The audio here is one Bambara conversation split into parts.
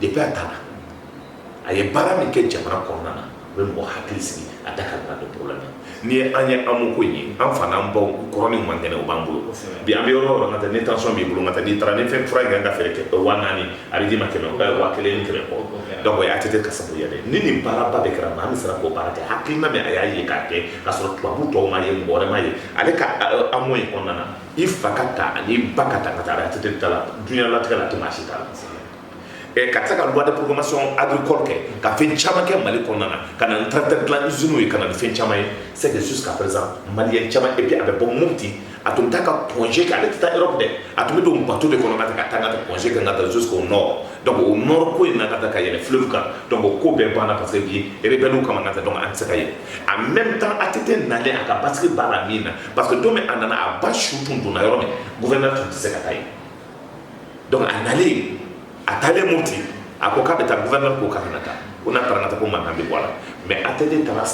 depuis a nana a ye baara min kɛ jamana kɔnɔna na u bɛ mɔgɔ hakili sigi a da ka donc problème nin ye an ye AMO ko ye an fana an baw kɔrɔnin man kɛnɛ u b'an bolo bi an bɛ yɔrɔ yɔrɔ ka tɛ ni tension b'i bolo ka n'i taara ni fɛn fura ka feere kɛ waa naani a bɛ d'i ma kɛmɛ ka waa kelen ni kɛmɛ kɔ donc o ye ATT ka sabu ye de ni nin baaraba de kɛra an bɛ sera k'o baara kɛ hakili na a y'a ye k'a kɛ ka sɔrɔ tubabu tɔw ma ye mɔgɔma ye ale ka AMO in kɔnɔna na i fa ka taa ani ba ka taa ka taa ATT ta la dunyalatigɛ la tɛ si ta la Eh, ka se ka loi de programmation agricole kɛ ka fɛn caman kɛ mali kɔnɔna na ka na ni tracteur dilan usines ye ka na ni fɛn caman ye c'est que jusqu'à présent maliyɛn caman et puis a bɛ bɔ mopti a tun bɛ taa ka congé kɛ ale tɛ taa europe dɛ a tun bɛ don bato de kɔnɔ ka taa ka taa ka taa congé kɛ ka taa jusqu'au nord donc o nord ko in na ka taa ka yɛlɛ fleuve kan donc o ko bɛɛ banna parce que bi rebelle kama ka taa donc an tɛ se ka yɛlɛ en même temps ATT nalen a ka basigi b'a la min na parce que don min a nana a ba su tun donna yɔrɔ min gouverneur tun tɛ se ka taa yen donc a nalen a taalen mɔti a ko k'a bɛ taa gouverneur ko k'a kana taa ko n'a taara ka ko mankan bɛ bɔ a la mais ATT taara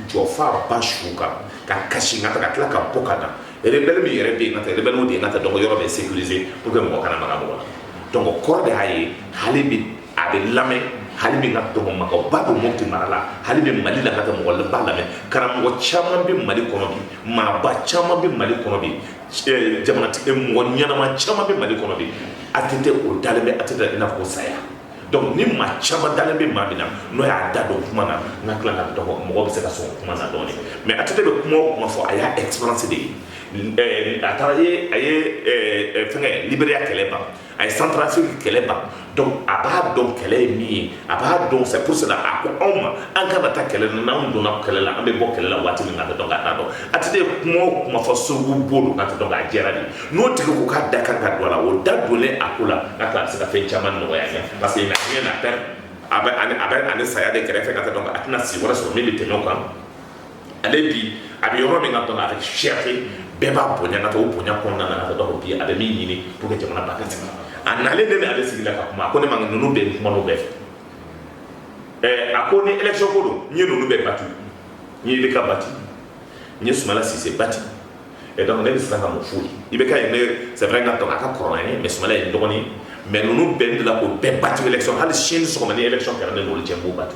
jɔ f'a ba su kan ka kasi ka ka tila ka bɔ ka na rebelle min yɛrɛ bɛ yen ka taa rebelle de ye ka taa donc yɔrɔ bɛ sécuriser pour que mɔgɔ kana maga mɔgɔ la donc kɔrɔ de y'a ye hali bi a bɛ lamɛn hali bi ka taa donc mɔgɔba don mɔti mara la hali bi mali la ka taa mɔgɔ de b'a lamɛn karamɔgɔ caman bɛ mali kɔnɔ bi maaba caman bɛ mali kɔnɔ bi eh, jamanatigi eh, mɔgɔ ɲɛnama caman bɛ mali kɔnɔ de ATT u dalen bɛ ATT in na ko saya donc ni maa caman dalen bɛ maa min na n'o y'a da don kuma na n ka tila ka donc mɔgɔ bɛ se ka sɔn kuma na dɔɔni mais ATT bɛ kuma o kuma fɔ a y'a experience de ye eh, a taara ye a ye fɛngɛ liberiya kɛlɛ ban a ye centrafrique kɛlɛ ban donc a b'a dɔn kɛlɛ ye min ye a b'a dɔn c'est pour cela a ko anw ma an kana taa kɛlɛ na n'an donna kɛlɛ la an bɛ bɔ kɛlɛ la waati min na an t'a dɔn ka taa donc ATT ye kuma o kuma fɔ sogo bolo ka dɔn k'a jɛra de n'o tigi ko k'a da ka kan ka don a la o da donlen a ko la ka taa a bɛ se ka fɛn caman nɔgɔya parce que il n'a rien à perdre a ni saya de kɛrɛfɛ ka dɔn a tɛna si wɛrɛ sɔrɔ min bɛ tɛmɛ o kan ale bi a bɛ yɔrɔ min ka dɔn avec fierté bɛɛ b'a bonya ka o bonya kɔnɔna na ka dɔn bi a bɛ min ɲini pour que jamana ba ka sigi a nalen de ale sigi la ka kuma a ko ne ma ninnu bɛ kuma bɛɛ fɛ a ko ni election ko don n ye ninnu bɛɛ bati n ye IBK bati n ye sumala sise bati et donc ne bɛ siran ka mun f'u ye IBK ye ne c'est vrai n ka dɔn a ka kɔrɔ n ye mais sumala ye n dɔgɔnin mais ninnu bɛɛ de la ko bɛɛ bati election hali sini sɔgɔma ni election kɛra ne n'olu cɛ n b'u bati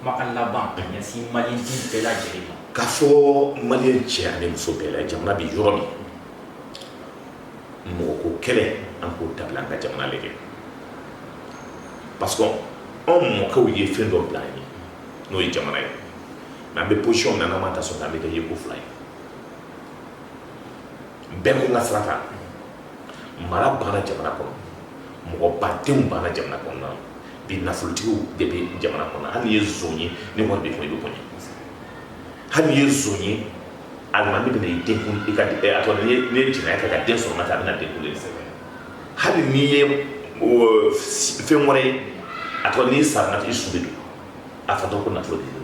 Kumakan laban ka ɲɛsin Maliyɛn den bɛɛ lajɛlen ma. K'a fɔ Maliyɛn cɛ ani muso bɛɛ la, jamana bɛ yɔrɔ min, mɔgɔ ko kɛlɛ an k'o dabila an ka jamana lajɛ parce que anw mɔkɛw ye fɛn dɔ bila an ye n'o ye jamana ye mais an bɛ position min na n'an ma ta sɔrɔ an bɛ kɛ yeko fila ye bɛɛ ko n ka sira ta mara banna jamana kɔnɔ mɔgɔ badenw banna jamana kɔnɔna bi nafolotigiw de bɛ jamana kɔnɔ hali n'i ye zon ye ni wari b'i kun i bɛ bonya hali n'i ye zon ye alimami bɛna i den kun di ka a tɔ n'i ye jɛnɛya kɛ ka den sɔrɔ ka a bɛna den kun di hali n'i ye fɛn wɛrɛ ye a tɔ n'i sara i su bɛ don a fatɔ ko nafolo de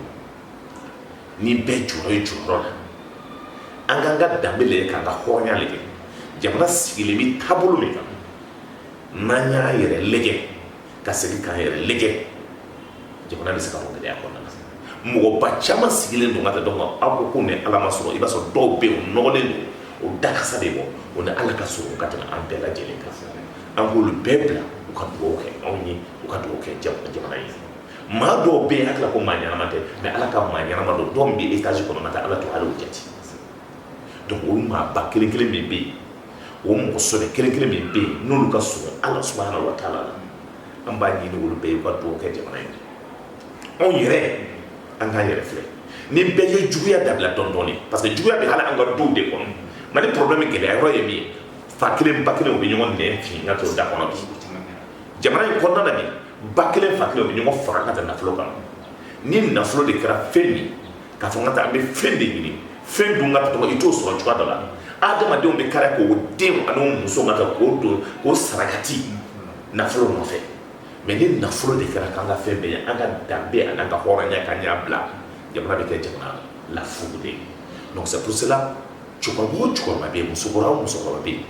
ni bɛɛ jɔra i jɔyɔrɔ la an k'an ka danbe lajɛ k'an ka hɔrɔnya lajɛ jamana sigilen bɛ taabolo min kan n'an y'a yɛrɛ lajɛ ka segin k'an yɛrɛ lajɛ jamana bɛ se ka bɔ gɛlɛya kɔnɔna na mɔgɔba caman sigilen don ka taa donc aw ko k'o ni ala man surun i b'a sɔrɔ dɔw bɛ yen o nɔgɔlen don o da kasa de bɔ o ni ala ka surun ka tɛmɛ an bɛɛ lajɛlen kan an k'olu bɛɛ bila u ka dugawu kɛ anw ye u ka dugawu kɛ jamana ye maa dɔw bɛ yen hakili la ko maa ɲɛnama tɛ mais ala ka maa ɲɛnama don dɔw bɛ étage kɔnɔ ka ala to ala jate donc o maa ba kelen kelen min bɛ yen o mɔgɔ sɔbɛ kelen kelen min bɛ yen n'olu ka surun ala subahana wa taala la an b'a ɲini olu bɛɛ ye u ka dugawu kɛ jamana ye anw yɛrɛ an k'an yɛrɛ filɛ ni bɛɛ ye juguya dabila dɔɔni dɔɔni parce que juguya bɛ hali an ka duw de kɔnɔ mali problème gɛlɛya yɔrɔ ye min ye fa kelen ba kelen u bɛ ɲɔgɔn nɛn fin ka to da kɔnɔ bi jamana in kɔnɔna na bi ba kelen fa kelen bɛ ɲɔgɔn faga ka taa nafolo kan ni nafolo de kɛra fɛn min k'a fɔ ka taa an bɛ fɛn de ɲini fɛn dun ka tɔgɔ i t'o sɔrɔ cogoya dɔ la adamadenw bɛ kari k'o den ani muso ka k'o don k'o sarakati nafolo nɔfɛ mais ni nafolo de kɛra k'an ka fɛn bɛɛ ye an ka danbe an'an ka hɔrɔnya k'an y'a bila jamana bɛ kɛ jamana lafugu de ye donc c'est pour cela cɛkɔrɔba o cɛkɔrɔba bɛ yen musokɔrɔba o musokɔrɔba bɛ yen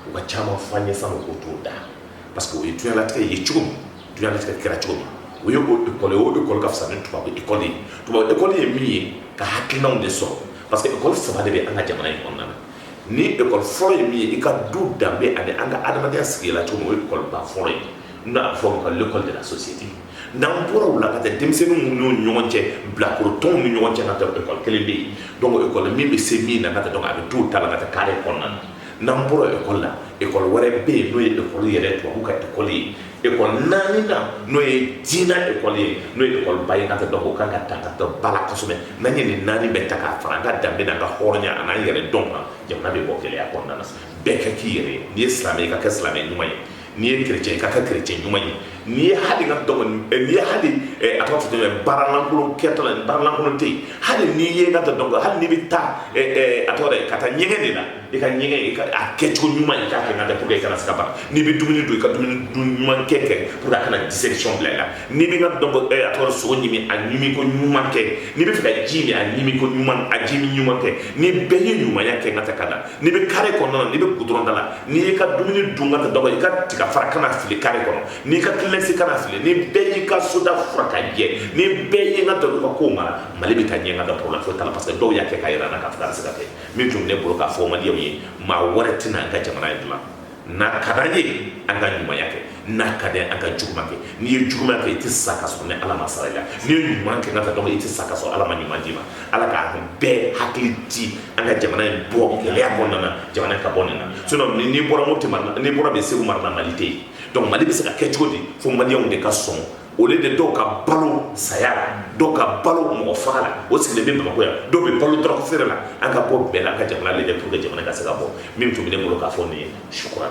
u ka caman fɔ an ye san'u k'o t'o da parce que o ye diɲɛlatigɛ ye cogo min diɲɛlatigɛ kɛra cogo min o ye o école ye o école ka fisa ni tubabu école ye tubabu école ye min ye ka hakilinaw de sɔrɔ parce que école saba de bɛ an ka jamana in kɔnɔna na ni école fɔlɔ ye min ye i ka du danbe ani an ka adamadenya sigi la cogo min o ye école ba fɔlɔ ye n'o a bɛ fɔ o ma ko l'école de la société n'an bɔra o la ka taa denmisɛnninw ni ɲɔgɔn cɛ bilakorotɔnw ni ɲɔgɔn cɛ ka taa école kelen bɛ yen donc école min bɛ se min na ka taa donc a bɛ t'o ta la ka taa carré kɔnɔna na n'an bɔra école la école wɛrɛ bɛ yen n'o ye école yɛrɛ tubabu ka école ye école naaninan n'o ye diinɛ école ye n'o ye école ba ye ka taa donc o ka kan ka ta ka taa ba la kosɛbɛ n'an ye nin naani bɛɛ ta k'a fara an ka danbe n'an ka hɔrɔnya an'an yɛrɛdɔn kan jamana bɛ bɔ gɛlɛya kɔnɔna na bɛɛ ka k'i yɛrɛ ye n'i ye silamɛ ye i ka kɛ silamɛ ɲuman ye n'i ye chrétien ye i ka kɛ chrétien ɲuman ye n'i ye hali ka dɔgɔn n'i ye hali a ka fɔ ye baaralankolon kɛtɔ la baaralankolon tɛ hali n'i ye ka dɔn hali ni bɛ taa a tɔgɔ ye ka taa ɲɛgɛn de la i ka ɲɛgɛn a kɛcogo ɲuman i k'a kɛ ka pour que i kana saba n'i bɛ dumuni dun i ka dumuni dun ɲuman kɛ pour que a kana dissection bila i la n'i bɛ ka dɔn a tɔgɔ sogo ɲimi a ɲimi ko ɲuman kɛ n'i bɛ fɛ ka ji min a ɲimi ko ɲuman a ji min ɲuman kɛ ni bɛɛ ye ɲumanya kɛ ka tɛ ka da n'i bɛ carré kɔnɔna n'i bɛ goudron da la n'i y'i ka dumuni dun ka dɔgɔ i ka tiga fara kana fili carré kɔnɔ n'i ka kleenex kana fili ni bɛɛ y'i ka soda furan ka jɛ ni bɛɛ y'i ka daba ko mara mali bɛ taa ɲɛ ka da problème foyi t'a la parce que dɔw y'a kɛ ka jira an na k'a fɔ a bɛ se ka kɛ min tun bɛ ne bolo k'a fɔ maliyɛnw ye maa wɛrɛ tɛna an ka jamana in dilan n'a ka d'an ye an ka ɲumanya kɛ n'a ka d'an an ka juguman kɛ n'i ye juguman kɛ i tɛ sa ka sɔrɔ ni ala ma sara i la n'i ye ɲuman kɛ n'a ka dɔgɔ i tɛ sa ka sɔrɔ ala ma ɲuman d'i ma ala k'an bɛɛ hakili di an ka jamana in bɔ gɛlɛya kɔnɔna na jamana in ka bɔ nin na sinon ni n'i bɔra mopti mara n'i bɔra de segu mara la mali tɛ yen donc mali bɛ se ka kɛ cogo di fo maliyɛnw de ka sɔn o de dɔw ka balo saya la dɔw ka balo mɔgɔ faga la o sigilen bɛ bamakɔ yan dɔw bɛ balo drogue feere la an ka bɔ bɛɛ la an ka jamana lajɛ pour que jamana ka se ka bɔ min tun bɛ ne bolo k'a fɔ nin ye shukran